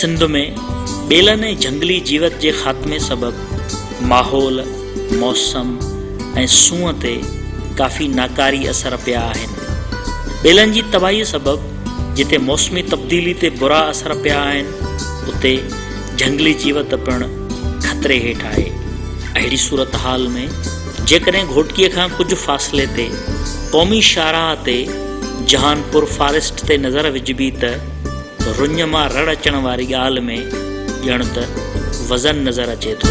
سنڌ ۾ ٻيلن ۽ جهنگلي جيوت جي خاتمي سبب ماحول، موسم ۽ سونهن تي ڪافي ناڪاري اثر پيا آهن. ٻيلن جي تباهي سبب جتي موسمي تبديلي تي برا اثر پيا آهن، اتي جهنگلي جيوت پڻ خطري هيٺ آهي. اهڙي صورتحال ۾ جيڪڏهن گهوٽڪيء کان ڪجهه فاصلي تي قومي شاهراهه تي جهان پور فاريسٽ تي نظر وجهبي ته رڃ مان رڙ اچڻ واري ڳالهه ۾ ڄڻ ته وزن نظر اچي ٿو.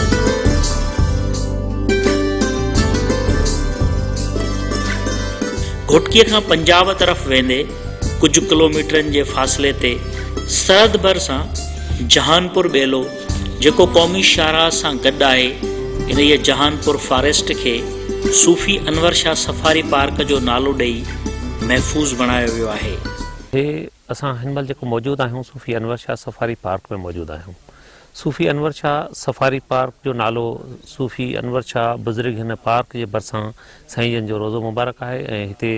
گهوٽڪيء کان پنجاب طرف ويندي ڪجهه ڪلوميٽرن جي فاصلي تي سرحد ڀر سان جهانپور ٻيلو جيڪو قومي شاهراهه سان گڏ آهي، انهيء جهانپور فاريسٽ کي صوفي انور شاهه سفاري پارڪ جو نالو ڏئي محفوظ بڻايو ويو آهي. هي اسان هن مهل جيڪو موجود آهيون صوفي انور شاهه سفاري پارڪ ۾ موجود آهيون. صوفي انور شاهه سفاري پارڪ جو نالو صوفي انور شاهه بزرگ هن پارڪ جي ڀرسان سائين جن جو روضو مبارڪ آهي ۽ هتي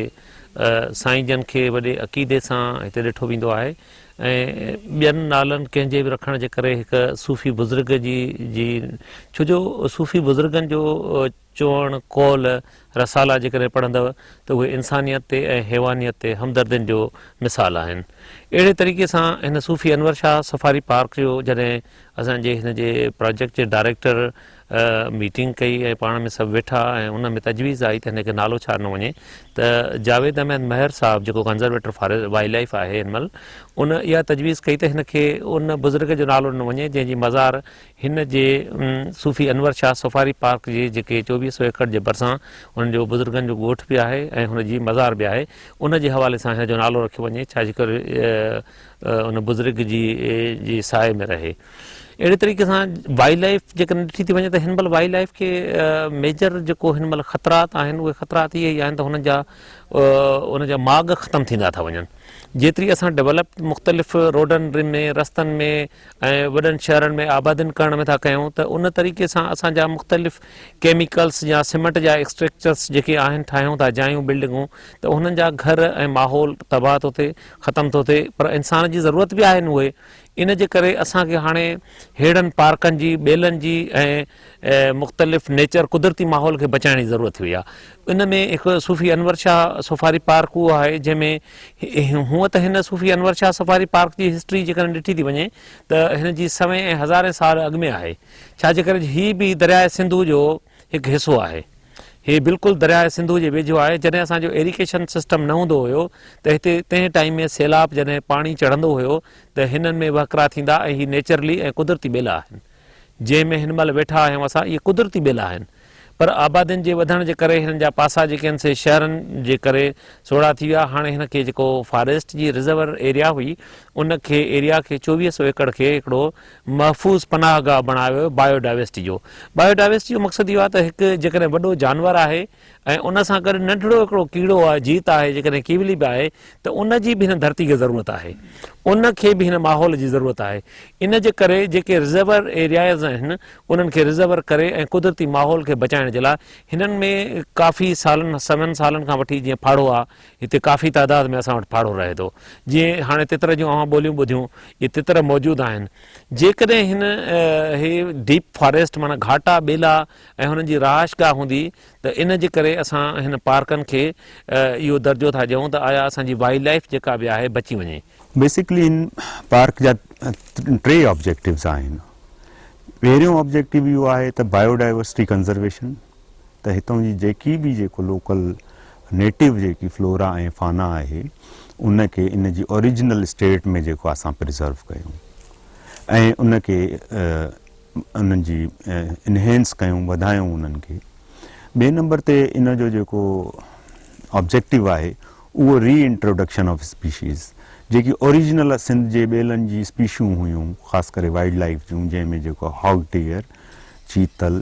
سائين جن کي وڏي عقيدي سان هتي ڏٺو ويندو آهي ۽ ٻين نالن ڪنهن جي به رکڻ جي ڪري هڪ صوفي بزرگ جي جي ڇو جو صوفي بزرگن جو چوڻ قول رسالا جيڪڏهن پڙهندو ته اهي انسانيت تي ۽ حيوانيت تي همدردين جو مثال آهن اهڙي طريقي سان هن صوفي انور شاهه سفاري پارڪ جو جڏهن اسان جي هن جي پراجيڪٽ جي ڊائريڪٽر ميٽنگ ڪئي ۽ پاڻ ۾ سڀ ويٺا ۽ ان ۾ تجويز آئي ته هن کي نالو ڇاڏنو وڃي ته جاويد احمد مهر صاحب جيڪو ڪنزرويٽر فار وائلڊ لائف آهي هن مهل ان اها تجويز ڪئي ته هن کي ان بزرگ جو نالو ڏنو وڃي جنهن جي مزار هن جي صوفي انور شاهه سفاري پارڪ جي جيڪي چوويهه سو ايڪڙ جي ڀرسان ان جو بزرگن جو ڳوٺ به آهي ۽ هن جي مزار به آهي ان جي حوالي سان هن جو نالو رکيو وڃي ڇاجي ڪري ان بزرگ جي جي سائي ۾ رهي اهڙي طريقي سان وائلڊ لائف جيڪڏهن ڏٺي ٿي وڃي ته هن مهل وائلڊ لائف کي ميجر جيڪو هن مهل خطرات آهن اهي خطرات اهي ئي آهن ته هن جا ان جا ماڳ ختم ٿيندا ٿا وڃن جيتري اسان ڊيولپ مختلف روڊن ۾ رستن ۾ ۽ وڏن شهرن ۾ آبادين ڪرڻ ۾ ٿا ڪيون ته ان طريقي سان اسان جا مختلف ڪيميڪلس يا سيمنٽ جا اسٽرڪچرس جيڪي آهن ٺاهيون ٿا جايون بلڊنگون ته انهن جا گهر ۽ ماحول تباهه ٿو ٿئي ختم ٿو ٿئي پر انسان جي ضرورت به آهن اهي ان جي ڪري اسان کي هاڻي ههڙن پارڪن جي، ٻيلن جي ۽ مختلف نيچر قدرتي ماحول کي بچائڻ جي ضرورت هئي آ. ان ۾ هڪ صوفي انور شاهه سفاري پارڪ اهو آهي جنهن ۾ هونء ته هن صوفي انور شاهه سفاري پارڪ جي هسٽري جيڪڏهن ڏٺي ٿي وڃي ته هن جي سوين ۽ هزارين سال اڳ ۾ آهي ڇا جي ڪري هي به درياء سنڌو جو هڪ حصو آهي. هي بلڪل درياهه سنڌو جي ويجهو آهي. جڏهن اسان جو ايريڪيشن سسٽم نه هوندو هيو ته هتي تنهن ٽائيم ۾ سيلاب جڏهن پاڻي چڙهندو هيو ته هنن ۾ وهڪرا ٿيندا ۽ هي نيچرلي ۽ قدرتي ٻيلا آهن جنهن ۾ هن مهل ويٺا آهيون اسان اهي قدرتي ٻيلا آهن پر آبادين جي وڌڻ جي ڪري هنن جا پاسا جيڪي آهن سي شهرن جي ڪري سوڙها ٿي ويا هاڻي هن کي جيڪو فاريسٽ جي رزرور ايريا هئي ان کي ايريا کي چوويهه سو ايڪڙ کي هڪڙو محفوظ پناهه گاهه بڻايو ويو بايو ڊائيورسٽي جو بايو ڊائيورسٽي جو مقصد اهو آهي ته هڪ جيڪڏهن وڏو جانور آهي ۽ ان سان گڏ ننڍڙو هڪڙو ڪيڙو آهي جيت آهي جيڪڏهن ڪيولي به آهي ته ان جي به هن ڌرتي کي ضرورت آهي ان کي به هن ماحول جي ضرورت آهي ان جي ڪري جيڪي رزرور ايرياز آهن انهن کي رزرور ڪري ۽ قدرتي ماحول کي بچائڻ جي لاء هنن ۾ ڪافي سالن سون سالن کان وٺي جيئن ڦاڙهو آهي هتي ڪافي تعداد ۾ اسان وٽ ڦاڙهو رهي ٿو. جيئن هاڻي تتر جون اوهان ٻوليون ٻڌيون، اهي تتر موجود آهن. جيڪڏهن هن هي ڊيپ فاريسٽ معنيٰ گهاٽا ٻيلا ۽ هنن جي رهائش گاهه هوندي ته ان جي ڪري اسان هن پارڪن کي اهو درجو ٿا ڏيون ته آيا اسان جي وائلڊ لائيف جيڪا به آهي بچي وڃي. بيسڪلي هن پارڪ جا ٽي آبجيڪٽوز آهن. پهريون آبجيڪٽو اهو آهي ته بايو ڊائيورسٽي ڪنزرويشن. ته هتان جي جيڪي به جيڪو لوڪل نيٽو جيڪي فلورا ۽ فانا آهي ان کي ان جي اوريجنل اسٽيٽ ۾ جيڪو اسان پريزرو ڪيون ۽ ان کي انهن جي انهينس ڪيون وڌايون انهن کي ٻئي نمبر تي ان جو جيڪو آبجيڪٽو آهي اهو ري انٽروڊڪشن آف اسپيشيز جيڪي اوريجنل سنڌ جي ٻيلن جي اسپيشيون هيون خاص ڪري وائلڊ لائف جون جنهن ۾ جيڪو هاگ ڊيئر چيتل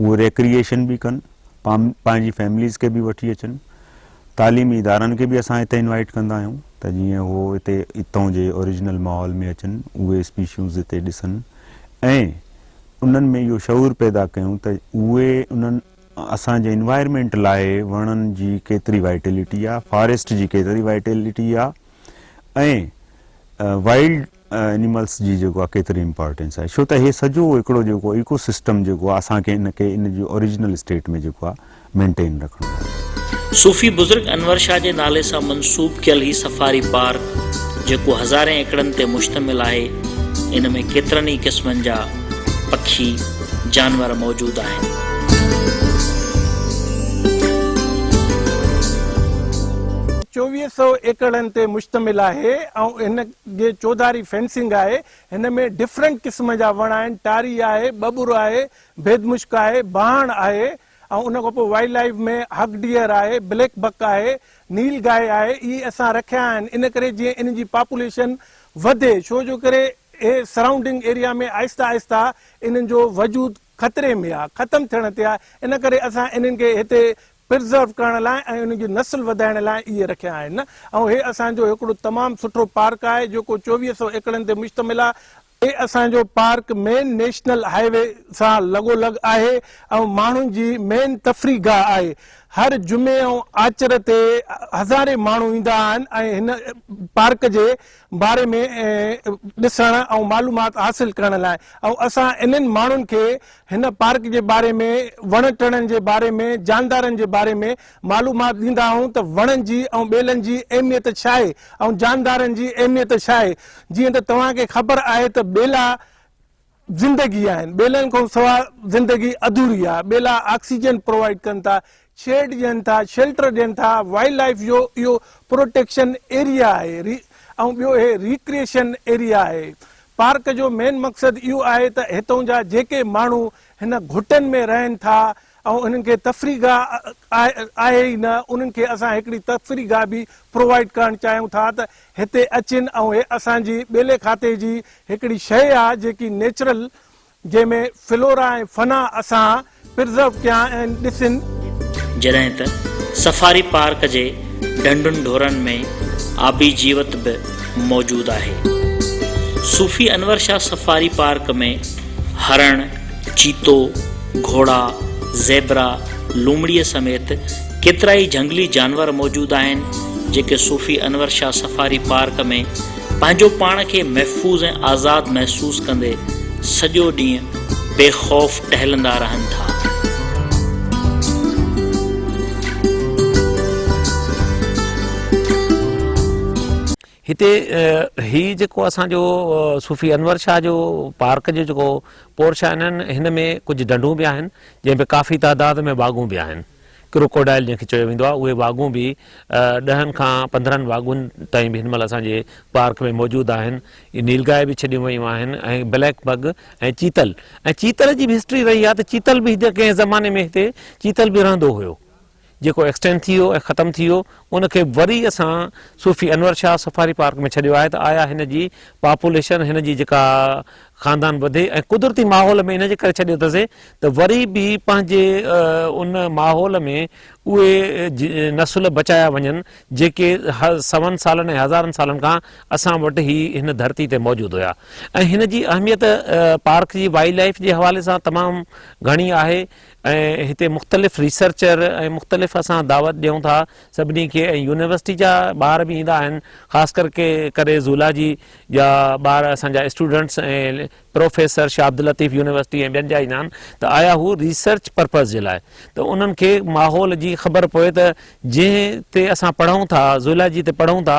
اهي ريڪريئيشن به ڪن، پنهنجي فيمليز کي به وٺي اچن، تعليمي ادارن کي به اسان هتي انوائيٽ ڪندا آهيون ته جيئن اهو هتي اتئون جي اوريجنل ماحول ۾ اچن، اهي اسپيشيوز هتي ڏسن ۽ انهن ۾ اهو شعور پيدا ڪيون ته اهي انهن اسان جي انوائرمينٽ لاء وڻن جي ڪيتري وائيٽيلٽي آهي، فاريسٽ جي ڪيتري وائيٽيلٽي آهي ۽ وائلڊ انيملس جي جيڪو آ ڪيتري امپارٽينس آهي ڇو ته هي سڄو هڪڙو جيڪو ايڪو سسٽم جيڪو آ اسان کي ان کي ان جي اوريجنل اسٽيٽ ۾ جيڪو آ مينٽين رکڻو آهي. صوفي بزرگ انور شاهه جي نالي سان منسوب ڪيل هي سفاري پارڪ جيڪو هزارين ايڪڙن تي مشتمل آهي ان ۾ ڪيترن ئي قسمن جا پکي جانور موجود آهن. چوويهه سئو ايڪڙن تي مشتمل آهي ۽ ان اڳي چوڌاري فينسنگ آهي، هن ۾ ڊفرنٽ قسم جا وڻ آهن، ٽاري آهي، ٻٻر آهي، ڀيد مشڪ آهي، بهاڻ آهي ۽ ان کان پوء وائلڊ لائيف ۾ هگ ڊيئر آهي، بليڪ بڪ آهي، نيل گائي آهي، اهي اسان رکيا آهن ان ڪري جيئن انهن جي پاپوليشن وڌي ڇو جو ڪري اهي سرائونڊنگ ايريا ۾ آهستي آهستي انهن جو وجود خطري ۾ آهي، ختم ٿيڻ تي آهي ان ڪري اسان انهن کي هتي پرزرو ڪرڻ لاء ۽ انهن جي نسل وڌائڻ لاء اهي رکيا آهن ۽ هي اسان جو هڪڙو تمام سٺو پارڪ آهي جيڪو چوويهه سؤ ايڪڙن تي مشتمل آهي، هي اسان جو park main national highway سان لڳو لڳ آهي ۽ ماڻهن جي مين تفريح گاهه آهي، هر جمعي ۽ آچر تي هزارين ماڻهو ايندا آهن ۽ هن پارڪ جي باري ۾ ڏسڻ ۽ معلومات حاصل ڪرڻ لاء ۽ اسان انهن ماڻهن کي هن پارڪ جي باري ۾ وڻ ٽڻن جي باري ۾ جاندارن جي باري ۾ معلومات ڏيندا آهيون ته وڻن جي ۽ ٻيلن جي اهميت ڇا آهي ۽ جاندارن جي اهميت ڇا آهي جيئن ته توهان کي خبر آهي ته ٻيلا زندگي آهن، ٻيلن کانسواء زندگي اڌوري آهي، ٻيلا آڪسيجن پرووائيڊ ڪن ٿا، شيڊ ڏين ٿا، شيلٽر ڏين ٿا، وائلڊ لائيف جو اهو پروٽيڪشن ايريا آهي ۽ ٻيو هي ريڪريشن ايريا آهي، پارڪ جو مين مقصد اهو آهي ته هتون جا جيڪي ماڻهو هن گهٽن ۾ رهن ٿا اهو انهن کي تفريح گاهه آهي ئي نه، انهن کي اسان هڪڙي تفريح گاهه به پرووائيڊ ڪرڻ چاهيون ٿا ته هتي اچين ۽ هي اسان جي ٻيلي کاتي جي هڪڙي شيء آ جيڪي نيچرل جنهن ۾ فلورا ۽ فنا اسان پرزرو ڪيا آهن ڏسين. جڏهن ته سفاري پارڪ جي ڍنڍن ڍورن ۾ آبي جيوت به موجود آهي. صوفي انور شاهه سفاري پارڪ ۾ هرڻ، چيتو، گهوڙا، زيبرا، لومڙيء سميت ڪيترائي جهنگلي جانور موجود آهن، جيڪي صوفي انور شاهه سفاري پارڪ ۾ پنهنجو پاڻ کي محفوظ ۽ آزاد محسوس ڪندي سڄو ڏينهن بي خوف ٽهلندا رهن ٿا. هتي هي جيڪو اسان جو صوفي انور شاهه جو پارڪ جو جيڪو پورش آهن هن ۾ ڪجهه ڍنڍون به آهن جنهن ۾ ڪافي تعداد ۾ واڳون به آهن ڪروڪوڊائل جنهن کي چيو ويندو آهي اهي واڳون به ڏهن کان پندرهن واڳون تائين به هن مهل اسان جي پارڪ ۾ موجود آهن نيل گاهي به ڇڏيون ويون آهن ۽ بليڪ بگ ۽ چيتل ۽ چيتل جي به هسٽري رهي آهي ته چيتل به ڪنهن زماني ۾ هتي چيتل به رهندو هيو جيڪو ايڪسٽينڊ ٿي ويو ۽ ختم ٿي ويو ان کي وري اسان صوفي انور شاهه سفاري پارڪ ۾ ڇڏيو آهي ته آيا هن جي پاپوليشن هن جي جيڪا خاندان وڌي ۽ قدرتي ماحول ۾ ان جي ڪري ڇڏيو اٿسي ته وري به پنهنجي ان ماحول ۾ اهي نسل بچايا وڃن جيڪي سون سالن ۽ هزارن سالن کان اسان وٽ هي هن ڌرتي تي موجود هيا ۽ هن جي اهميت پارڪ جي وائلڊ لائف جي حوالي سان تمام گهڻي آهي ۽ هتي مختلف ريسرچر ۽ مختلف اسان دعوت ڏيون ٿا سڀني کي ۽ يونيورسٽي جا ٻار به ايندا آهن خاص ڪر ڪي ڪري زولاجي جا ٻار اسان جا students ۽ professor Shah Abdul Latif university ۽ ٻين جا ايندا آهن ته آيا هو ريسرچ پرپز جي لاء ته انهن کي ماحول جي خبر پوي ته جنهن تي اسان پڙهون ٿا زولاجي تي پڙهون ٿا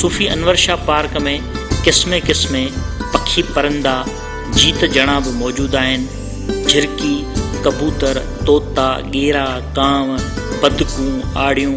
صوفي انور شاهه پارڪ ۾ قسمين قسمين پکي پرندا جيت جڻا به موجود آهن، جهرڪي، ڪبوتر، طوطا، ڳيرا، ڪانء، بدڪون، آڙيون،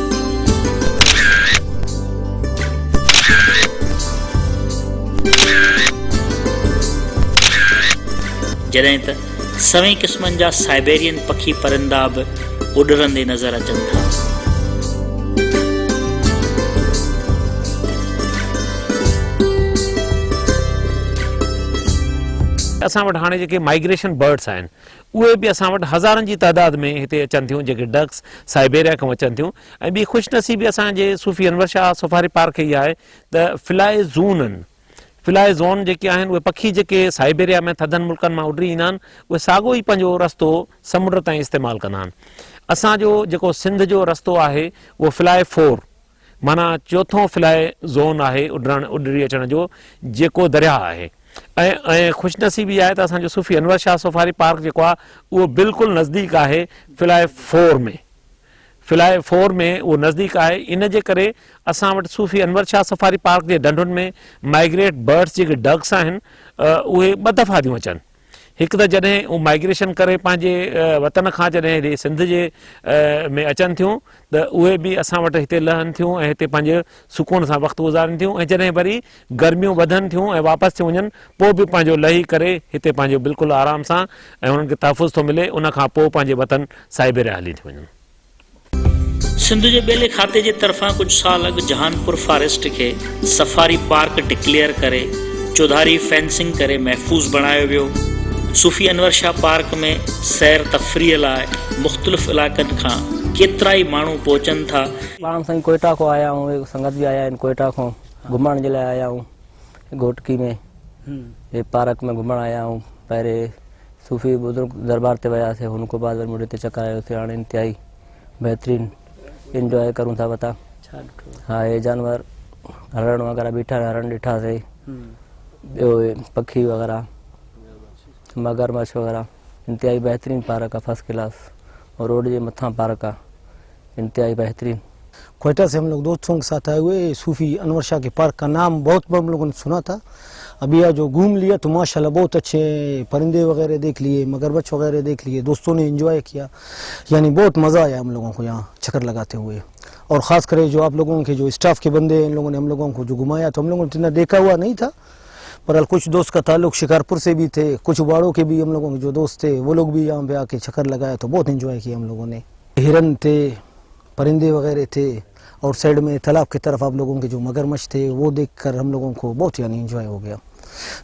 جڏهن ته سوين قسمن جا سائبيرين پکي پرندا به اڏرندي نظر اچن ٿا. اسان وٽ هاڻي جيڪي مائگريشن برڊس آهن اهي به اسان وٽ هزارن جي تعداد ۾ هتي اچن ٿيون جيڪي ڊڪس سائبيريا کان اچن ٿيون ۽ ٻي خوش نصيبي اسان جي صوفي انور شاهه سفاري پارڪ کي اها آهي ته فلائي زونن، Fly Zone، جيڪي آهن اهي پکي جيڪي سائبيريا ۾ ٿڌن ملڪن مان اڏري ايندا آهن اهي ساڳو ئي پنهنجو رستو سمنڊ تائين استعمال ڪندا آهن. اسان جو جيڪو سنڌ جو رستو آهي اهو فلائي فور، معنيٰ چوٿون فلائي زون آهي اڏرڻ، اڏري اچڻ، جو جيڪو درياهه آهي ۽ ۽ خوش نصيبي آهي ته اسان جو صوفي انور شاهه سفاري پارڪ جيڪو آهي اهو بلڪل نزديڪ آهي فلائي فور ۾ فلائي فور ۾ اهو نزديڪ آهي ان جي ڪري اسان وٽ صوفي انور شاهه سفاري پارڪ جي ڍنڍن ۾ مائگريٽ برڊس جيڪي ڊڪس آهن اهي ٻه دفعا ٿيون اچن. هڪ ته جڏهن هو مائگريشن ڪري پنهنجي وطن کان جڏهن هيڏي سنڌ جي ۾ اچن ٿيون ته اهي به اسان وٽ هتي لهن ٿيون ۽ هتي پنهنجي سڪون سان وقت گذارين ٿيون ۽ جڏهن وري گرميون وڌن ٿيون ۽ واپس ٿيون وڃن پوء به پنهنجو لهي ڪري هتي پنهنجو بلڪل آرام سان ۽ هنن کي تحفظ ٿو ملي ان کان پوء پنهنجي وطن سائبيريا هلي ٿيون وڃن. سنڌ جي ٻيلي کاتي جي طرفان ڪجهه سال اڳ جهانپور فاريسٽ کي سفاري پارڪ ڊڪليئر ڪري چوڌاري فينسنگ ڪري محفوظ بڻايو ويو. صوفي انور شاهه پارڪ ۾ سير تفريح لاء مختلف علائقن کان ڪيترائي ماڻهو پهچن ٿا. پاڻ سائين ڪوئيٽا کان آيا آهيون هڪ سنگت به آيا آهن ڪوئيٽا کان گهمڻ جي لاء آيا آهيون گهوٽڪي ۾ هي پارڪ ۾ گهمڻ آيا آهيون پهرين صوفي بزرگ دربار تي وياسي هن کان بعد وري مڙي تي چڪر آيو سي هاڻي انتهائي بهترين انجوائي ڪرون ٿا وتا ها هي جانور هرڻ وغيرها بيٺا هرڻ ڏٺا سي ٻيو پکي وغيرها مگرمچ وغيرها انتهائي بهترين پارڪ آ فرسٽ ڪلاس روڊ جي مٿان پارڪ آ انتهائي بهترين. کوئيٽا سي هم لوگ دوست سونگ ساٿ آئي هوئي صوفي انور شاھ ڪي پارڪ ڪا نام بهت هم لوگون ني سنا ٿا ابي آ جو گهوم ليا تو ماشاء الله بهت اڇي پرندي وغيره ديک ليئي مگرمچ وغيره ديک ليئي دوستو ني انجوائي ڪيا يعني بهت مزا آيا هم لوگون ڪو يها چڪر لگاتي هوئي اور خاص ڪري جو آپ لوگون ڪي جو اسٽاف ڪي بندي ان لوگون ني هم لوگون ڪو جو گهمايا تو هم لوگون اتنا ديکا هوا نهي ٿا برحال ڪچھ دوست ڪا تعلق شڪارپور سي بي ٿي ڪچھ واڙو ڪي بي هم لوگون ڪي جو دوست ٿي وه لوگ بي يها پي آ ڪي چڪر لگايا تو بهت انجوائي ڪيا هم لوگون ني. هرن تھي پرندي وغيره تھي اور سائيڊ مي تالاب ڪي طرف اپ لوگون ڪي جو مگرمچھ تھي وو ديک ڪر ھم لوگون ڪو بھت يعني انجوائي ھو گيا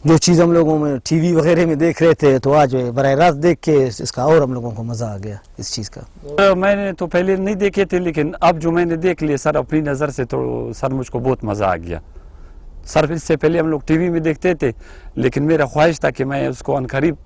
جو چيز ھم لوگون مي ٽي وي وغيره مي ديک رھي تھي تو آج براھ راست ديک ڪي اس ڪا اور ھم لوگون ڪو مزا آ گيا اس چيز ڪا مي ني تو پھلي نھي ديکي تھي ليڪن اب جو مي ني ديک ليئي سر اپني نظر سي تو سر مجھ ڪو بھت مزا آ گيا سر اس سي پھلي ھم لوگ ٽي وي مي ديکتي تھي ليڪن ميرا خواھش تھا ڪي مي اس ڪو ان قريب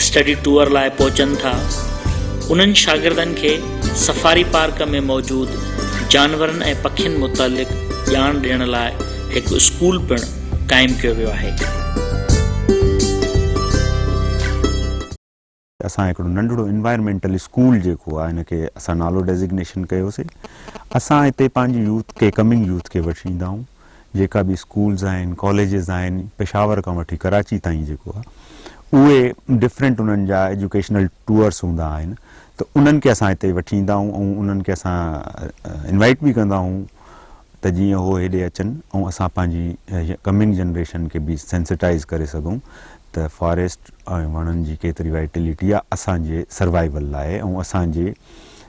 اسٽڊي ٽوئر لاء پهچن ٿا انهن شاگردن کي سفاري پارڪ ۾ موجود جانورن ۽ پکين متعلق ڄاڻ ڏيڻ لاء هڪ اسڪول پڻ قائم ڪيو ويو آهي. اسان هڪڙو ننڍڙو انوائرمينٽل اسڪول جيڪو آهي ان کي اسان نالو ڊيزگنيشن ڪيوسي اسان هتي پنهنجي يوٿ کي ڪمنگ يوٿ کي وٺي ايندا آهون جيڪا به اسڪولز آهن، ڪاليجز آهن، پشاور کان وٺي ڪراچي تائين جيڪو آهي اهي ڊفرنٽ انهن جا ايجوڪيشنل ٽوئرس هوندا آهن ته انهن کي اسان هتي وٺي ايندا آهيون ۽ انهن کي اسان انوائيٽ به ڪندا آهيون ته جيئن اهو هيڏي اچن ۽ اسان پنهنجي ڪمنگ جنريشن کي به سينسيٽائز ڪري سگهون ته فاريسٽ ۽ وڻن جي ڪيتري وائيٽليٽي آهي اسان جي سروائيول لاء ۽ اسان جي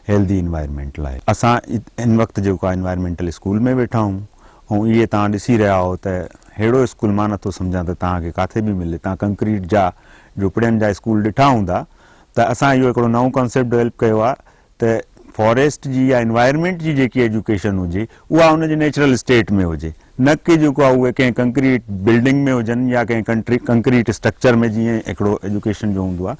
هيلڌي انوائرمينٽ لاء اسان هن وقت جيڪو آهي انوائرمينٽل اسڪول ۾ ويٺا آهيون ۽ اهي توهان ڏسي رهيا آهو ته ههڙو اسڪول مان نٿو سمجهان ته توهان کي ڪاٿي به ملي توهان ڪنڪريٽ جا جهوپڙين جا اسڪول ڏٺا هوندا ته اسان اهو هڪڙو نئون ڪانسيپٽ ڊويلپ ڪيو آهي ته فاريسٽ جي يا انوائرمينٽ جي جيڪي ايجوڪيشن هجي اها ان جي نيچرل اسٽيٽ ۾ هجي نه ڪي جيڪو آهي اهي ڪنهن ڪنڪريٽ بلڊنگ ۾ هجن يا ڪنهن ڪنڪريٽ اسٽرڪچر ۾ جيئن هڪڙو ايجوڪيشن جو هوندو آهي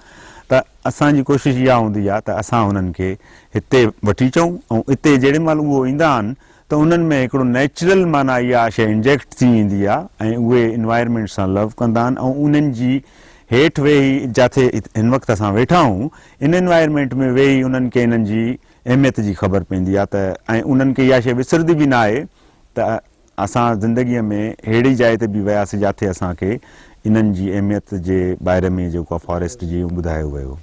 ته اسان جي ڪوشش اها هوندي آهي ته اسان هنن کي هتي وٺي اچون ۽ اتي جيڏي مهل اهو ايندا آهن ته انهن ۾ هڪڙو نيچرل معنيٰ اها شيء انجيڪٽ ٿي ويندي آهي ۽ اهي انوائرمينٽ سان لو ڪندا آهن ۽ انهن جي هيٺ ويهي جاٿي هن وقت اسان ويٺا آهون ان انوائرمينٽ ۾ ويهي انهن کي انهن جي اهميت جي خبر پوندي آهي ته ۽ انهن کي اها شيء وسرندي به ناهي ته اسان زندگيء ۾ اهڙي جاء تي به وياسين جاٿي اسان کي انهن جي اهميت جي باري ۾ جيڪو آ فاريسٽ جي ٻڌايو ويو.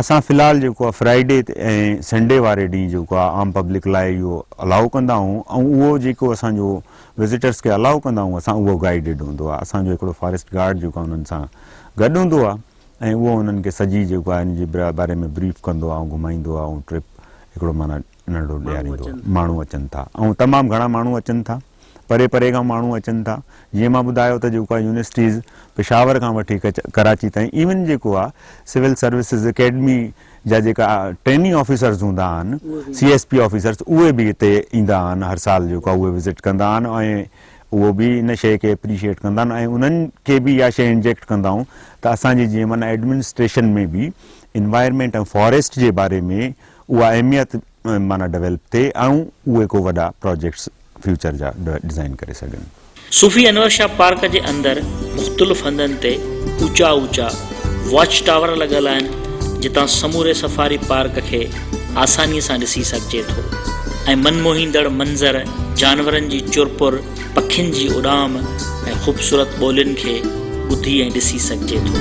اسان في الحال جيڪو آ فرائيڊي تي ۽ سنڊي واري ڏينهن جيڪو آ عام پبلڪ لاء اهو الاؤ ڪندا آهون ۽ اهو جيڪو اسان جو وزيٽرس کي الاؤ ڪندا آهون اسان اهو گائيڊڊ هوندو آ اسان جو هڪڙو فاريسٽ گارڊ جيڪو آ انهن سان گڏ هوندو آ ۽ اهو انهن کي سڄي جيڪو آ ان جي باري ۾ بريف ڪندو آ ۽ گهمائيندو آ ۽ ٽرپ هڪڙو معنيٰ ننڍڙو ڏياريندو آهي. ماڻهو اچن ٿا ۽ تمام گهڻا ماڻهو اچن ٿا. پري پري کان ماڻهو اچن ٿا. جيئن مان ٻڌايو ته جيڪو آهي يونيورسٽيز پشاور کان وٺي ڪراچي تائين ايون جيڪو آهي سول سروسز اڪيڊمي جا جيڪا ٽريننگ آفيسرز هوندا آهن، سي ايس پي آفيسرز اهي به هتي ايندا آهن هر سال جيڪو آهي اهي وزٽ ڪندا آهن ۽ اهو به ان شيء کي اپريشيئيٽ ڪندا آهن ۽ انهن کي به اها شيء انجيڪٽ ڪندا آهيون ته اسان جي جيئن معنيٰ ايڊمنسٽريشن ۾ به انوائرمينٽ ۽ فاريسٽ جي باري ۾ اها اهميت معنيٰ ڊويلپ ٿئي ۽ اهي ڪو وڏا پراجيڪٽس فيوچر جا ڊزائين ڪري سگهن. صوفي انور شاهه پارڪ جي اندر مختلف هنڌن تي اوچا اوچا واچ ٽاور لڳل آهن جتان سموري سفاري پارڪ کي آساني سان ڏسي سگهجي ٿو ۽ من موهيندڙ منظر جانورن جي چرپر، پکين جي اڏام ۽ خوبصورت ٻولين کي ٻڌي ۽ ڏسي سگهجي ٿو.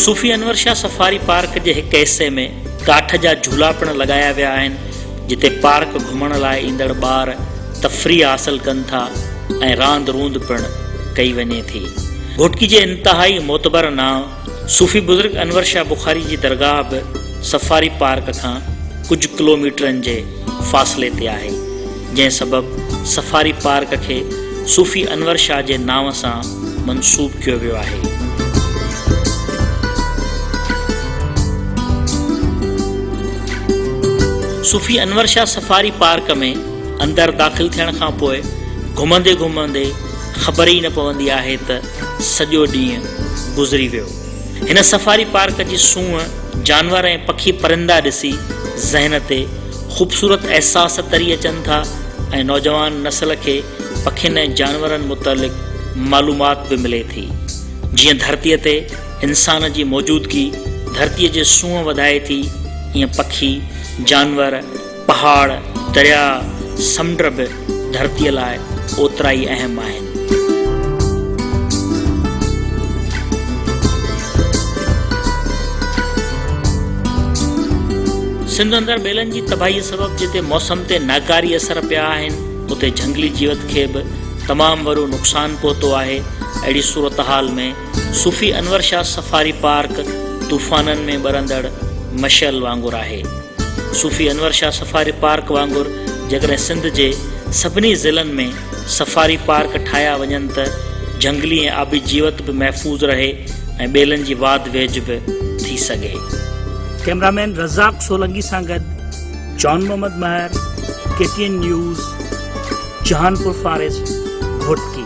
صوفي انور شاهه سفاري پارڪ جي هڪ حصي ۾ ڪاٺ جا جهولا پڻ لڳايا ويا آهن، جتي پارڪ گهمڻ لاء ايندڙ ٻار تفريح حاصل ڪن ٿا ۽ راند روند پڻ ڪئي وڃي ٿي. گهوٽڪي جي انتهائي معتبر نانء صوفي بزرگ انور شاهه بخاري جي درگاهه به سفاري پارڪ کان ڪجهه ڪلوميٽرن جي فاصلي تي آهي، جنهن سبب سفاري پارڪ کي صوفي انور شاهه جي نانء سان منسوب ڪيو ويو آهي. صوفي انور شاهه سفاري پارڪ ۾ اندر داخل ٿيڻ کان پوء گهمندي گهمندي خبر ئي نه پوندي آهي ته، سڄو ڏينهن گذري ويو. هن سفاري پارڪ جي سونهن، جانور ۽ پکي پرندا ڏسي ذهن تي خوبصورت احساس تري اچن ٿا ۽ نوجوان نسل کي پکين ۽ جانورن متعلق معلومات به ملي ٿي. جيئن ڌرتيء تي انسان جي موجودگي ڌرتيء جي سونهن وڌائي ٿي، ايئن پکي، جانور، پهاڙ، درياء، سمنڊ به ڌرتيء لاء اوترائي اهم آهن. سنڌ اندر ٻيلن جي تباهيء سبب جتي موسم تي ناڪاري اثر پيا آهن، اتي جهنگلي جيوت کي به تمام وڏو نقصان پهتو آهي. اهڙي صورتحال ۾، صوفي انور شاهه سفاري پارڪ طوفانن ۾ ٻرندڙ مشعل وانگر آهي. صوفي انور شاهه سفاري پارڪ وانگر جيڪڏهن سنڌ جي سڀني ضلعن ۾ سفاري پارڪ ٺاهيا وڃن ته جهنگلي ۽ آبي جيوت به محفوظ رهي ۽ ٻيلن جي واڌ ويجهه به ٿي سگهي. ڪئميرا مين رزاق سولنگي سان گڏ Jan Muhammad Mehar, K T N news, Jhanpur forest, Ghotki.